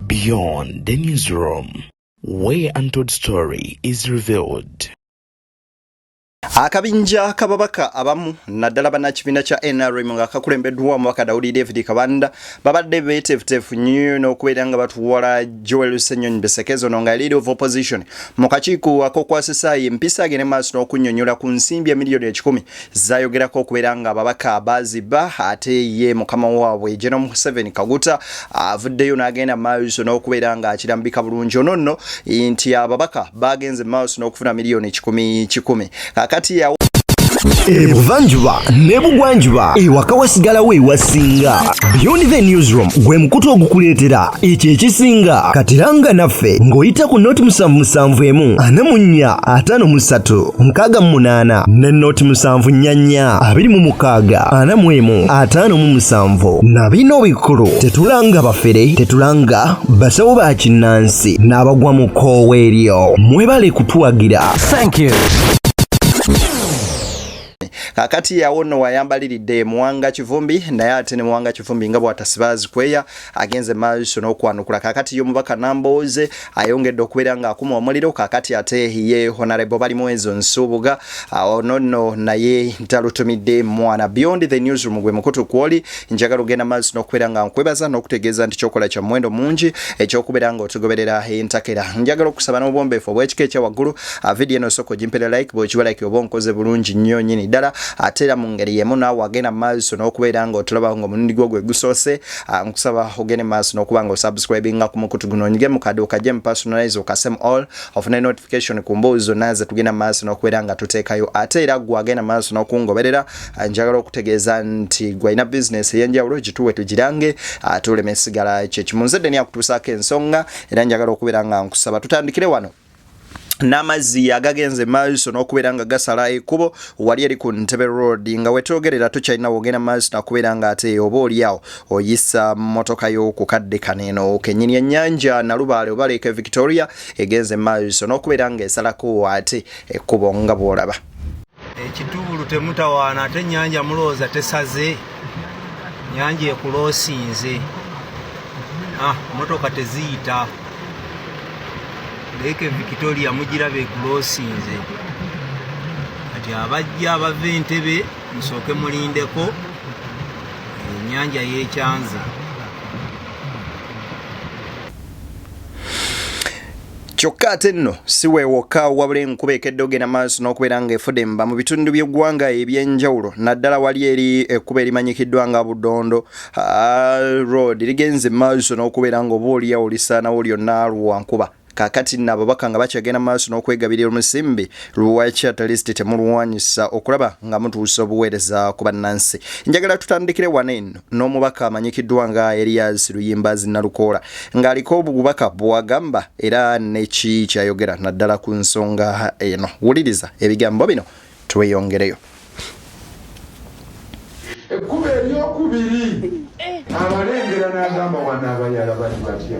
Beyond the newsroom, where untold story is revealed. akabinja kababaka abamu naddala banakibiina kya nrm nga kakulembeddwa omubaka dawudi david kabanda babadde betefutefu nnyo n'okubeera nga batuwala joel senyonyi besekezo no nga leader of opposition mu kakiiko akokwasisaayo empisa agende maaso n'okunyonyola ku nsimbi emiliyoni ekikumi zayogerako okubeera nga ababaka baziba ate ye mukama waabwe general museveni kaguta avuddeyo n'agenda maaso n'okubeera nga akirambika bulungi ono nno nti ababaka bagenze maaso n'okufuna miliyoni kikumi kikumi kakati yawo ebuvanjuba ne bugwanjuba ewaka wasigalawo ewasinga beyond the newsroom gwe mukutu ogukuleetera ekyo ekisinga katiranga naffe ng'oyita ku noti musanvu musanvu emu ana mu nnya ataano mu ssatu nkaaga mu munaana ne noti musanvu nnya nnya abiri mu mukaaga ana mu emu ataano mu musanvu na bino bikulu tetulanga bafere tetulanga basawo ba kinnansi n'abagwa mu koowa eryo mwebale kutuwagira Thank you. kakati yawo no wayambaliridde e muwanga kivumbi naye ate ne muwanga kivumbi nga bwatasibaazi kweya agenze maaso n'okwanukula kakati yo mubaka nambooze ayongedde okubeera nga akuma omuliro kakati ate ye honarebo bali mwezo nsuubuga ono no naye talutumidde mwana beyond the newsroom gwe mukutu kwoli njagala ogenda maaso n'okubeera nga nkwebaza n'okutegeeza nti kyokola kya muwendo mungi ekyokubeera nga otugoberera entakera njagala okusaba n'obwombeefu obw'ekika ekya waggulu ah, vidiyo eno osooka ogimpera like bwekiba like oba onkoze bulungi nnyo nyini ddala ate era mu ngeri yemu naawe agenda maaso n'okubeera nga otulaba nga omulundi gwo gwe gusoose ah, nkusaba ogende maaso n'okuba nga osubscribinga ku mukutu guno onyige mu kade okajje mu personalize okasem all ofune notification ku mbuuzi zonna ze tugenda maaso n'okubeera nga tuteekayo ate era gwe agenda maaso n'okungoberera Ah, njagala okutegeeza nti gwalina bizinesi eyenjawulo gituwe tugirange ah, tulema esigala kyekimu nze deni akutuusaako ensonga era njagala okubeera nga nkusaba tutandikire wano n'amazzi agagenze maaso n'okubeera nga gasala ekubo wali eri ku ntebe road nga wetwogerera tukyalina wogenda maaso nakubeera nga ate oba oliawo oyisa motoka y'okukadde kaneno kenyini ennyanja nalubaale oba leeka victoria egenze maaso n'okubeera nga esalako ate ekubo nga bwolaba ekitubulu temutawaana ate enyanja mulowooza tesaze nyanja ekuloosinze ah, motoka teziyita leeke victoria mugiraba ekuloosinze kati abajja abava entebe musooke mulindeko enyanja yekyanze Kyokka ate nno si weewokka wabula enkuba ekedde ogenda maaso n'okubeera ng'efudemba mu bitundu by'eggwanga eby'enjawulo naddala wali eri ekkuba erimanyikiddwa nga Budondo Road ligenze maaso n'okubeera ng'oba oliyawo lisaanawo lyonna lwa nkuba kakati nno ababaka nga bakyagenda maaso n'okwegabirira omusimbi lwaki atalisti temulwanyisa okulaba nga mutuusa obuweereza ku bannansi njagala tutandikire wano eno n'omubaka amanyikiddwa nga Erias Luyimbazi Nalukoola ng'aliko obubaka bwagamba era neki kyayogera naddala ku nsonga eno. Wuliriza ebigambo bino tweyongereyo. Ekkubo eryokubiri abalengera n'agamba wano abayala bali batya?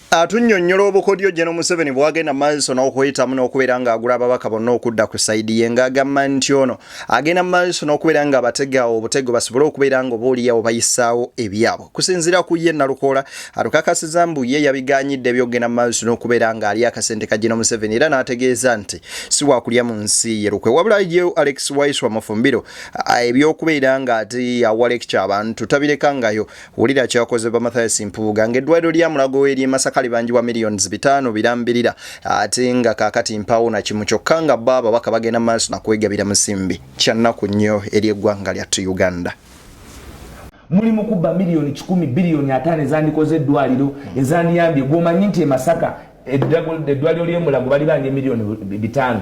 Atunyonyola obukodyo General Museveni bwagenda maaso n'okuyitamu n'okubeera ng'agula ababaka bonna okudda ku sayidi ye ng'agamba nti ono agenda maaso n'okubeera nga abatega obutego basobole okubeera nga obaoliyawo bayisaawo ebyabwe kusinziira ku ye Nalukoola atukakasiza mbu ye yabiganyidde ebyokugenda maaso n'okubeera ng'ali akasente ka General Museveni era n'ategeeza nti si wakulya mu nsi ye lukwe wabula ye Alex Waiswa Mufumbiro ebyokubeera ng'ati awa lekikya abantu tabirekangayo Wulira kyakozebwa Mathias Mpuuga ng'eddwaliro lya Mulago we ly'e Masaka libanjibwa miliyoni bitaano birambirira ate nga kaakati mpaawo na kimu kyokka nga bo ababaka bagenda maaso na kwegabira musimbi. Kya nnaku nnyo eri eggwanga lyattu Uganda. Muli mu kubba miliyoni kikumi biliyoni ataano ezandikoze eddwaliro ezandiyambye gw'omanyi nti e Masaka eddwaliro ly'e Mulago bali banja miliyoni bitaano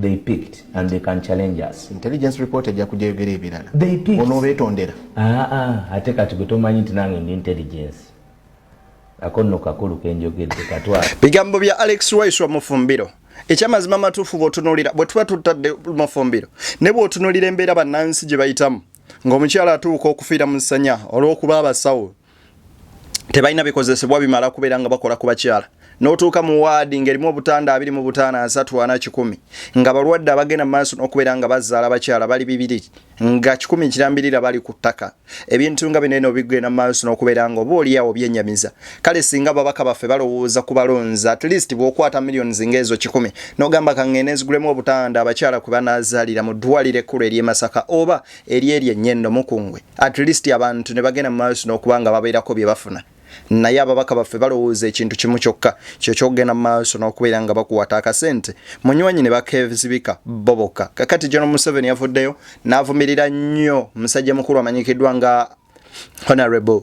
they picked and they can challenge us intelligence report ejja kujja yogera ebirala they picked ono betondera ah ah ate kati gwe tomanyi nti nange ndi intelligence akonno kakulu kenjogedde katwa bigambo bya alex rice wa mufumbiro ekyamazima matuufu bwotunulira bwe tuba tutadde mufumbiro ne bwotunulira embeera bannansi gye bayitamu ng'omukyala atuuka okufiira mu ssanya olw'okuba abasawo tebalina bikozesebwa bimala kubeera nga bakola ku bakyala n'otuuka mu waadi ng'erimu obutanda abiri mu butaano asatu ana kikumi nga balwadde abagenda mu maaso n'okubeera nga bazaala bakyala bali bibiri nga kikumi kirambirira bali ku ttaka ebintu nga bino eno bigenda mu maaso n'okubeera nga oba oliawo byenyamiza kale singa babaka baffe balowooza ku balonzi at least bw'okwata millions ng'ezo kikumi n'ogamba kang'eneezigulemu obutanda abakyala kwe banaazaalira mu ddwaliro ekkulu ery'e masaka oba eri eri ennyendo mukungwe at least abantu ne bagenda mu maaso n'okuba nga babeerako bye bafuna naye ababaka baffe balowooza ekintu kimu kyokka kyo kyokugenda mu maaso n'okubeera nga bakuwata akasente munywanyi ne bakevizibika bo bokka kakati jono museveni yavuddeyo n'avumirira nnyo musajja mukulu amanyikiddwa nga honorable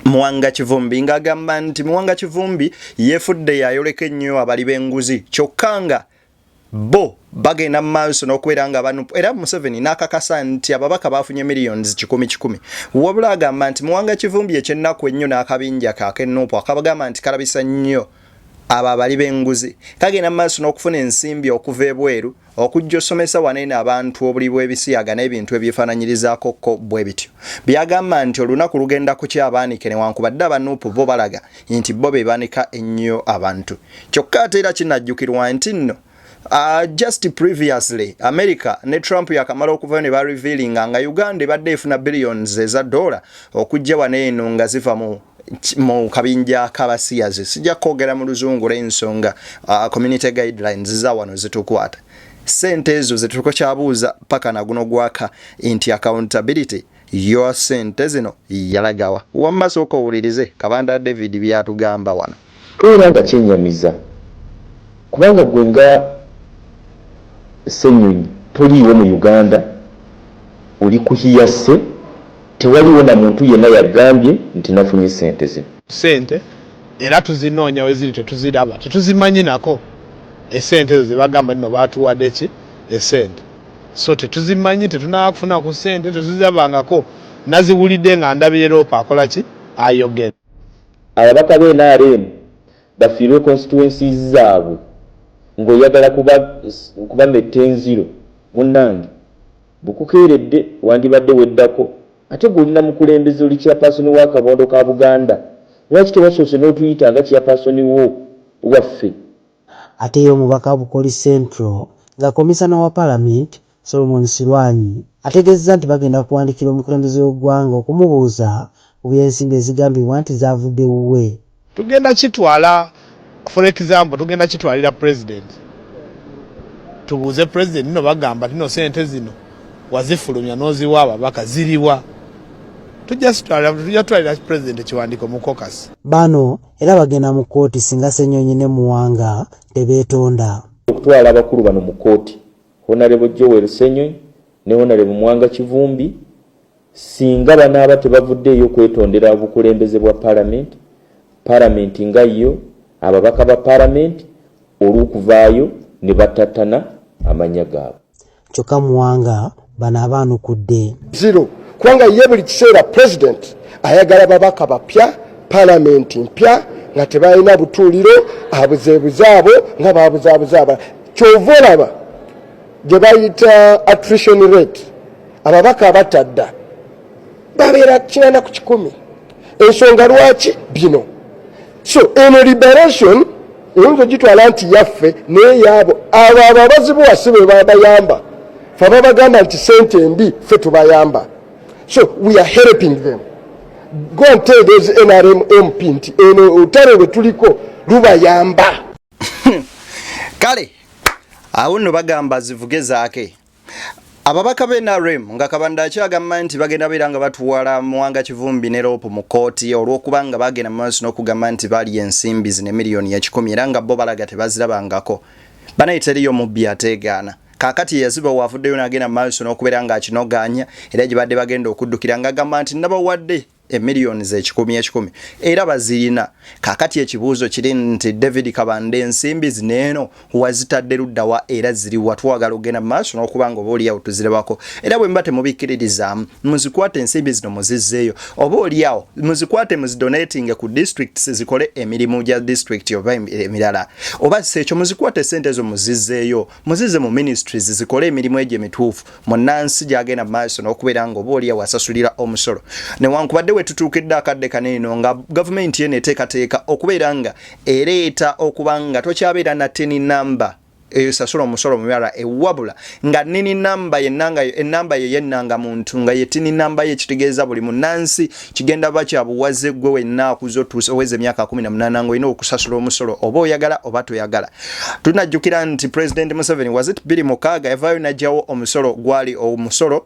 muwanga kivumbi ng'agamba nti muwanga kivumbi yeefudde yayoleka ennyo abali b'enguzi kyokka nga bo bagenda mu maaso n'okubeera nga banupu era museveni n'akakasa nti ababaka baafunye millions kikumi kikumi wabula agamba nti muwanga kivumbi ekyennaku ennyo n'akabinja kakenupu akabagamba nti kalabisa nnyo abo abali b'enguzi kagenda mu maaso n'okufuna ensimbi okuva ebweru okujja osomesa waneeno abantu obuli bw'ebisiyaga n'ebintu ebyefaananyirizaako ko bwe bityo byagamba nti olunaku lugenda kukya abaanike newankubadde abanupu bo balaga nti bo be banika ennyo abantu kyokka ate era kinajjukirwa nti nno Uh, just previously america ne trump yakamala okuvayo ne barevealinga nga uganda ebadde efuna billions eza dola okujja wano eno nga ziva mu mu kabinja kabasiyazi sijja kwogera mu luzungu lw'ensonga uh, community guidelines za wano zitukwata sente ezo zetuliko kyabuuza paka naguno gwaka nti accountability your sente zino yalagawa wamma sooka owulirize kabanda david byatugamba wano. Era nga kyenyamiza kubanga gwe nga Ssenyonyi toliiwo mu Uganda oli ku hearsay tewaliwo na muntu yenna yagambye nti nafunye sente zino. Sente era tuzinoonya weziri tetuziraba tetuzimanyi nako esente ezo zebagamba nno batuwadeki esente. So tetuzimanyi tetunaba kufuna ku sente tetuzirabangako naziwulidde nga ndabire Rope akola ki ayogera. Ababaka be nrm bafiirwe constituencies zaabwe nga oyagala kubametta enziro munange bukukeeredde wandibadde weddako ate gwe oli namukulembeze oli chairperson wa kabondo ka buganda lwaki tewasoose notuyita nga chairperson wo waffe Ate ye omubaka Bukoli Central nga komisana wa palamenti Solomon Silwany ategezezza nti bagenda kuwandikira omukulembeze w'eggwanga okumubuuza ku by'ensimbi ezigambibwa nti zavudde wuwe. Tugenda kitwala for example tugenda kitwalira president tubuuze president no bagamba tino sente zino wazifulumya noziwa ababaka ziriwa tujja zitwalira tujja twalira president ekiwandiko mu caucus. Bano era bagenda mu kkooti singa Ssenyonyi ne Muwanga tebeetonda. Okutwala abakulu bano mu kkooti, Honarebo Joel Ssenyonyi ne Honarebo Muwanga Kivumbi singa banaaba tebavuddeeyo kwetondera obukulembeze bwa Palamenti, Palamenti nga yo, ababaka ba Palamenti olw'okuvaayo ne battattana amannya gaabwe. kyokka muwanga bano abaanukudde zero kubanga ye buli kiseera pulezidenti ayagala babaka bapya palamenti mpya nga tebalina butuuliro abuzeebuze abo nga babuzaabuza abala kyova olaba gye bayita attrition rate ababaka abatadda babeera kinana ku kikumi ensonga lwaki bino so eno liberation oyinza ogitwala nti yaffe naye yaabo abo abo abazibuwa si be babayamba fe babagamba nti sente mbi fe tubayamba so we are helping them go and tell those nrm mp nti eno otale lwe tuliko lubayamba kale awo nno bagamba zivuge zaake Ababaka be NRM nga Kabanda akyagamba nti bagenda beera nga batuwala Muwanga Kivumbi ne Loopu mu kkooti olw'okuba nga bagenda mu maaso n'okugamba nti baalya ensimbi zino emiliyoni ekikumi era nga bo balaga tebazirabangako. Banaye teriyo mubbi ateegaana. Kaakati eyazibawa avuddeyo n'agenda mu maaso n'okubeera ng'akinogaanya era gye baadde bagenda okuddukira ng'agamba nti nabawadde. emiliyoni zekikumi ekikumi era bazirina kakati ekibuuzo kiri nti david kabanda ensimbi zineeno wazitadde luddawa era ziriwa twagala ogenda mumaaso nokuba nga oba oliawo tuzirebako era bwemba temubikkiririzaamu muzikwate ensimbi zino muzizzeeyo oba oliawo muzikwate muzidonatinge ku districts zikole emirimu gya district oba emirala oba si ekyo muzikwate sente ezo muzizzeeyo muzize mu ministries zikole emirimu egyo emituufu munnansi gyagenda mu maaso n'okubeera nga oba oli awasasulira omusolo newankubadde we tutuukidde akadde kano eno nga gavumenti yeno eteekateeka okubeera nga ereeta okuba nga tokyabeera na teni namba eyo sasula omusolo mubirala ewabula nga nini namba yenanga enamba ye yenanga muntu nga yetini namba ye kitegeeza buli munansi kigenda ba kya buwaze gwe wenna akuze otuuse oweza emyaka 18 nga olina okusasula omusolo oba oyagala oba toyagala tunajjukira nti president museveni was it biri mukaaga yavaayo najjawo omusolo gwali omusolo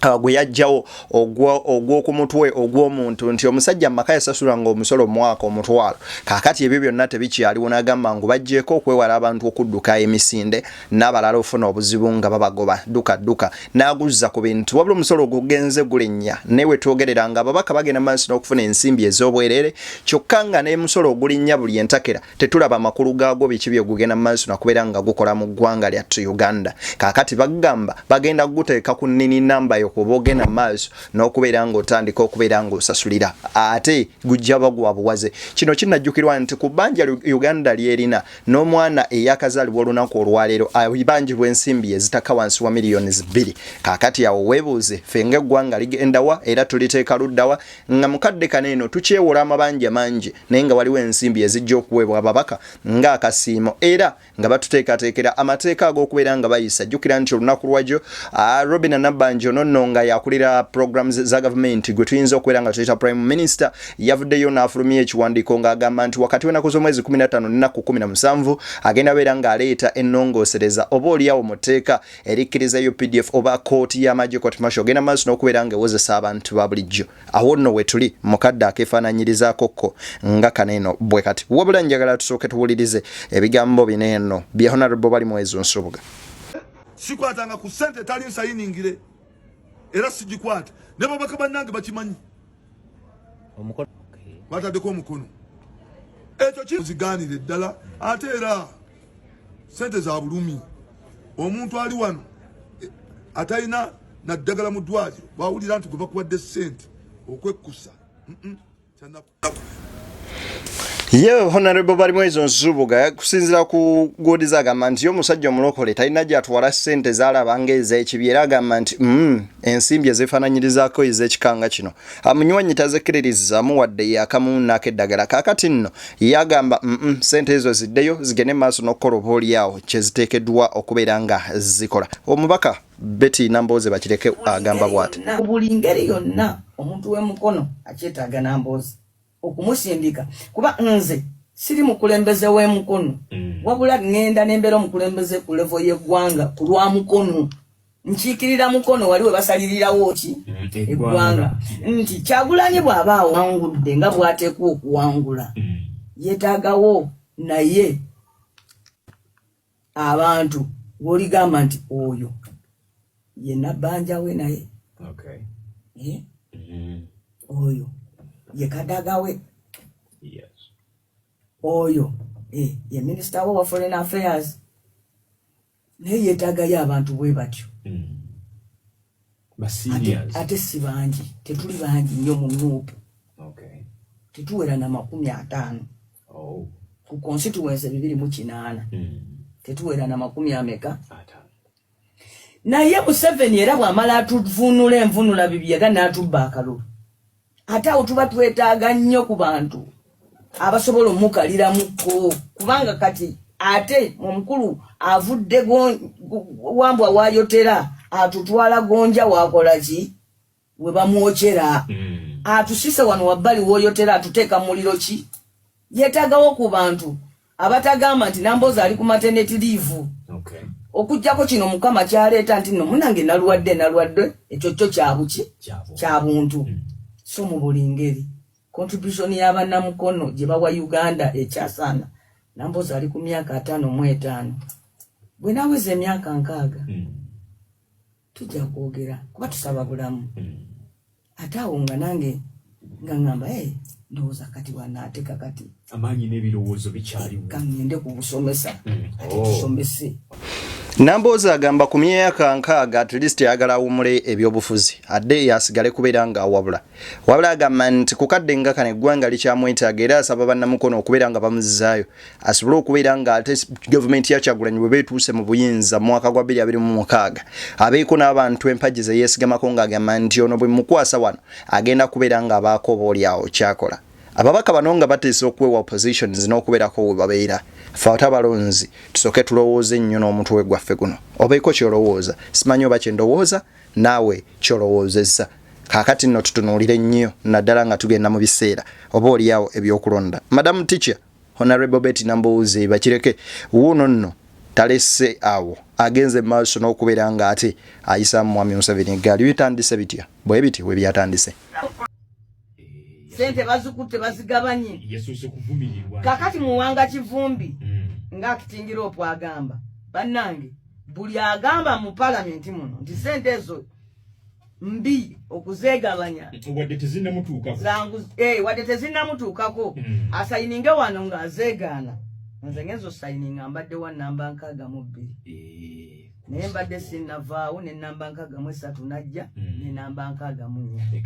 uh, gwe yajjawo ogw'oku mutwe ogw'omuntu nti omusajja mu maka yasasula nga omusolo mwaka omutwalo kakati ebyo byonna tebikyaliwo nagamba ngu bajjeeko okwewala abantu okudduka emisinde nabalala ofuna obuzibu nga babagoba duka duka naguzza ku bintu wabula omusolo ogugenze gulinnya naye wetwogerera nga ababaka bagenda maaso n'okufuna ensimbi ez'obwerere kyokka nga n'emusolo ogulinnya buli entakera tetulaba amakulu gaagwo biki byegugenda mu maaso nakubeera nga gukola mu ggwanga lyattu uganda kaakati bagamba bagenda kuguteeka ku nnini namba yo kuba ogenda mu maaso n'okubeera nga otandika okubeera nga osasulira ate gujja baguwa buwaze kino kinajjukirwa nti ku bbanja uganda lyerina n'omwana eyakazaalibwa olunaku olwaleero ayibanjibwa ah, ensimbi ezitaka wansi wa miliyoni bbiri kakati awo weebuuze ffe nga eggwanga ligendawa era tuliteeka luddawa nga mukadde kano eno tukyewola amabanja mangi naye nga waliwo ensimbi ezijja okuweebwa ababaka nga akasiimo era nga batuteekateekera amateeka ag'okubeera nga bayisa jjukira nti olunaku lwagyo ah, robina nabanja ono nno nga yakulira programs za gavumenti gwe tuyinza okubeera nga tuyita prime minister yavuddeyo n'afulumya ekiwandiiko ng'agamba nti wakati w'ennaku z'omwezi 15 n'ennaku 17 agenda beera ng'aleeta ennongoosereza oba oliawo mu tteeka erikkiriza updf oba kkooti y'amagye court marshal ogenda maaso n'okubeera ng'ewozesa abantu ba bulijjo awo nno wetuli mukadde akeefaananyirizaako kko nga kano eno bwe kati wabula njagala tusooke tuwulirize ebigambo bino eno bya honarable bali mwezo nsubuga sikwatanga ku ssente etali nsayiningire era sigikwata ne babaka bannange bakimanyi omukono batadeko omukono ekyo kiziganire ddala ate era sente za bulumi omuntu ali wano eh, atalina naddagala mu ddwaliro bwawulira nti gwe bakuwadde sente okwekkusa mm -mm. ye honorable balimwezo nsubuga kusinzira ku godiza agamba nti omusajja omulokole talina gyatwala sente zalaba nga ez'ekibi era agamba nti mm, ensimbi ezifananyirizako ez'ekikanga kino amunywanyi tazikiririzamu wadde yakamunaako eddagala kakati nno yagamba mm -mm, sente ezo ziddeyo zigende maaso n'okukola oba olyawo kyeziteekeddwa okubeera nga zikola omubaka beti nambooze bakireke agamba bwati buli ngeri yonna omuntu w'emukono akyetaaga nambooze okumusindika kuba nze siri mukulembeze w'e Mukono mm. wabula ŋŋenda ne mbeera omukulembeze ku levo y'eggwanga ku lwa Mukono nkiikirira Mukono wali we basalirirawo ki mm, eggwanga nti Kyagulanyi bw'aba awangudde nga bw'ateekwa okuwangula mm. yeetaagawo naye abantu woligamba nti oyo ye nabanja we naye okay. eh? mm -hmm. oyo ye kadaga we yes. oyo eh, ye minister wo wa foreign affairs naye yetagayo abantu bwe batyo mm -hmm. ate si bangi tetuli bangi nnyo mu nuupu tetuwera na makumi ataano oh. ku konsituwensi bibiri mu kinaana hmm. tetuwera na makumi ameka naye museveni era bwamala atuvunula envunula bibyaga n'atubba akalulu ate awo tuba twetaaga nnyo ku bantu abasobola omukaliramukko kubanga kati ate omukulu avudde wambwa wayotera atutwala gonja wakolaki we bamwokyera hmm. atusise wano wabbali woyotera atuteeka muliro ki yetagawo ku bantu abatagamba nti namboozi ali ku mateneti liivu okay. okujjako kino mukama kyaleeta nti no munange nalwadde nalwadde ekyo kyo kyabuki kyabuntu mm. so mu buli ngeri contribution y'abanamukono gye bawa uganda ekyasaana namboozi ali ku myaka ataano mu etaano bwe naweza emyaka nkaaga mm. tujja kwogera kuba tusaba bulamu mm. ate awo nga nange nga ngamba e ndowooza kati wanaateka kati amaanyi n'ebirowoozo bikyaliwo kangende ku busomesa mm. ate oh. tusomese Namboozi agamba ku myaka nkaaga at least ayagala awumule ebyobufuzi adde yasigale kubeera nga awabula wabula agamba nti kukadde nga kano eggwanga likyamwetaaga era asaba bannamukono okubeera nga bamuzizaayo asobole okubeera nga ate gavumenti ya kyagulanyi bwe beetuuse mu buyinza mu mwaka gwa 2026 abeeko n'abantu empagi ze yeesigamako ng'agamba nti ono bwe mukwasa wano agenda kubeera ng'abaako oba olyawo kyakola ababaka bano nga bateesa okuwewa oppositions n'okubeerako we babeera fe ate abalonzi tusooke tulowooze nnyo n'omutwe gwaffe guno obeeko ky'olowooza simanyi oba kye ndowooza naawe kyolowoozezza. Kaakati nno tutunuulire nnyo naddala nga tugenda mu biseera oba olyawo ebyokulonda. Madam Teacher, Honorable Betty Nambooze Bakireke wuuno nno talese awo agenze maaso n'okubeera nga ate ayisaamu Mwami Museveni eggaali. Bitandise bitya? Bwe biti we byatandise. Sente bazikutte bazigabanye. Yasuuse kuvumirirwa. Kaakati muwanga kivumbi mm. ng'akitingira opwagamba. Bannange. buli agamba mu palamenti muno nti sente ezo mbi okuzegabanya wadde tezinnamutuukako eh, hmm. asayininge wano ng'azeegaana nze ngenzo sayininga mbadde wa namba nkaaga mu bbiri eh, naye mbadde sinnavaawo ne namba nkaaga mu esatu najja hmm. ne namba nkaaga mu nnya eh,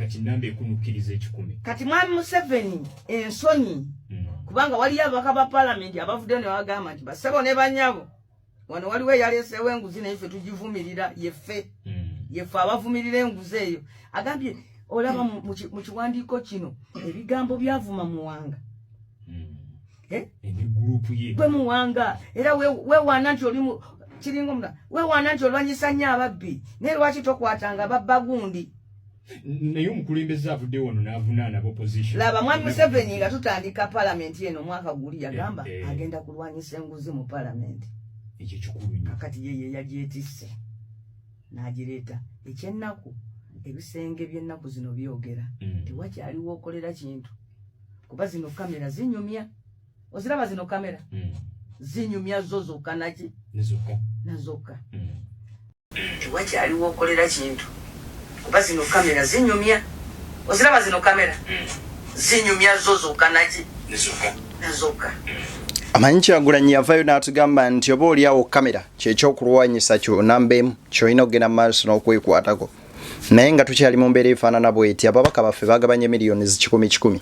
kati mwami museveni ensonyi hmm. kubanga waliyo abaka ba palamenti abavuddeyo ne bagamba nti basebo ne banyabo wano waliwo eyaleeseewo enguzi naye ffe tugivumirira yeffe hmm. yeffe abavumirira enguzi eyo agambye olaba mu kiwandiiko kino ebigambo byavuma muwanga hmm. eh? gwe muwanga era wewaana nti oli kiringa omula wewaana nti olwanyisa nnyo ababbi naye lwaki tokwatanga babba gundi naye omukulembeze avudde wano n'avunaana bopposition laba mwami museveni nga tutandika palamenti eno omwaka guli yagamba eh, eh. agenda kulwanyisa enguzi mu palamenti ekyo kikulu kakati yeye yagyetisse n'agireeta ekyennaku ebisenge by'ennaku zino byogera mm. tewakyaliwo okolera kintu kuba zino kamera zinyumya oziraba zino kamera mm. zinyumya zo zokka naki nazokka mm. Tewakyali wokolera kintu kuba zino kamera zinyumya. Oziraba zino kamera mm. zinyumya zo zoka naki nazoka. Amanyi Kyagulanyi yavayo n'atugamba nti oba olyawo kamera kyekyokulwanyisa kyo namba emu kyolina okugenda mu maaso n'okwekwatako naye nga tukyali mu mbeera efaanana bweti ababaka baffe bagabanye miliyoni zikikumi kikumi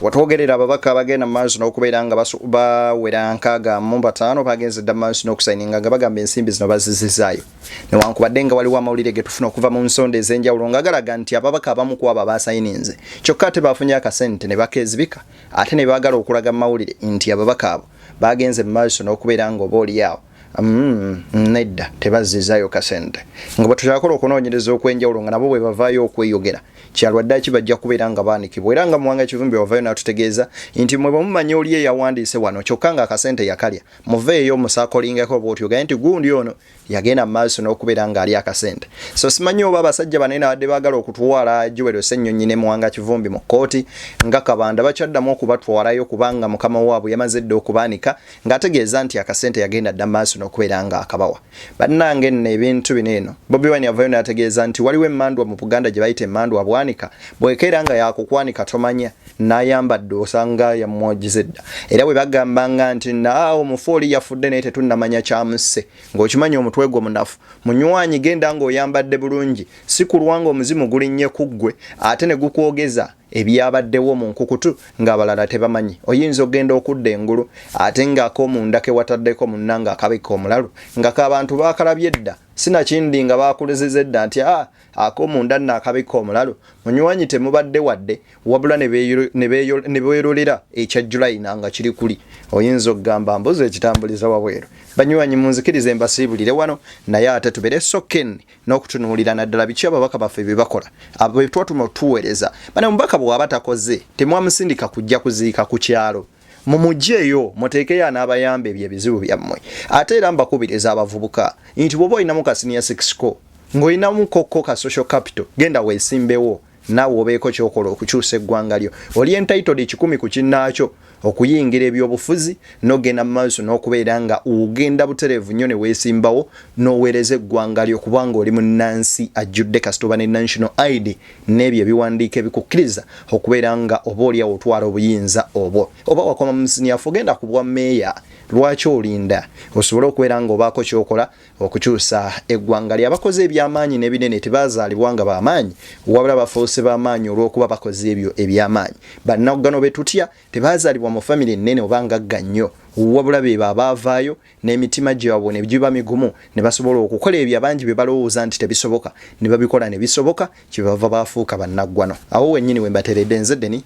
watwogerera ababaka abagenda mu maaso n'okubeera nga bawera nkaaga mu bataano bagenze dda mu maaso n'okusayininga nga bagamba ensimbi zino bazizizaayo newankubadde nga waliwo amawulire ge tufuna okuva mu nsonda ez'enjawulo nga galaga nti ababaka abamu ku abo abaasayininze kyokka ate baafunye akasente ne bakeezibika ate ne baagala okulaga mu mawulire nti ababaka abo baagenze mu maaso n'okubeera nga oba oliyaawo Mm, nedda tebazzizayo kasente nga bwetutakola okunoonyereza okwenjawulo nga nabo bwe bavaayo okweyogera kyalwaddaki bajja kubeera nga baanikibwa era nga muwanga kivumbi wavayo n'atutegeeza nti mwe bwemumanya oli eyawandiise wano kyokka nga akasente yakalya muveeyo musakolingako bwotyo gaye nti gundi ono yagenda mu maaso n'okubeera ng'ali akasente so simanyi oba abasajja bane nabadde baagala okutwala juwero ssennyonyi ne muwanga kivumbi mu kkooti nga kabanda bakyaddamu okubatwalayo kubanga mukama waabwe yamaze dda okubaanika ng'ategeeza nti akasente yagenda dda maaso n'okubeera ng'akabawa bannange nno ebintu bino eno bobi wine yavayo n'ategeeza nti waliwo emmandwa mu buganda gye bayita emmandwa bwanika bwekeera nga yakukwanika tomanya n'ayambadde osanga yamwogize dda era bwe bagamba nga nti naawo mufu oli yafudde naye tetunnamanya kyamusse ng'okimanyi omutwe gwo munafu munywanyi genda ng'oyambadde bulungi si kulwa ng'omuzimu gulinnye ku ggwe ate ne gukwogeza ebyabaddewo mu nkukutu ng'abalala tebamanyi. Oyinza okugenda okudda engulu ate ng'akomunda ke wataddeko munnange akabikka omulalu nga ka bantu baakalabye dda sinakindi nga baakuliziza edda nti a akomunda nno akabikka omulalu munywanyi temubadde wadde wabula ne beerolera ekya Julayina nga kiri kuli. Oyinza okugamba mbuzi ekitambuliza wabweru. Banywanyi munzikirize mbasiibulire wano naye ate tubere so keen n'okutunuulira naddala biki ababaka baffe bye bakola abo be twatuma otuweereza bana omubaka bw'aba takoze temwamusindika kujja kuziika ku kyalo mumugyeyo muteekeyo anaabayamba ebyo ebizibu byammwe ate era mbakubiriza abavubuka nti bwoba olinamu kasiniya sikisiko ng'olinamu kokko ka social capital genda weesimbewo naawe obeeko kyokola okukyusa eggwanga lyo oli entitled ekikumi ku kinnaakyo okuyingira ebyobufuzi nogenda mu maaso n'okubeera nga ogenda butereevu nnyo ne weesimbawo n'oweereza eggwanga lyo kubanga oli munnansi ajjudde kasitoba ne national id n'ebyo ebiwandiiko ebikukkiriza okubeera nga oba olyawo otwala obuyinza obwo oba wakoma mu siniyafu ogenda ku bwa meeya lwaki olinda osobole okubeera nga obaako kyokola Okukyusa eggwanga lye, abakoze eby'amaanyi n'ebinene tebaazaalibwa nga ba maanyi, wabula bafuuse ba maanyi olw'okuba bakoze ebyo eby'amaanyi. Bannaggano be tutya tebaazaalibwa mu famire nnene oba ngagga nnyo, wabula beebo abaavaayo n'emitima gyabwe ne giba migumu ne basobola okukola ebyo abangi bye balowooza nti tebisoboka ne babikola ne bisoboka kye bava bafuuka bannaggwano. Awo wennyini we mbateredde nze Denny.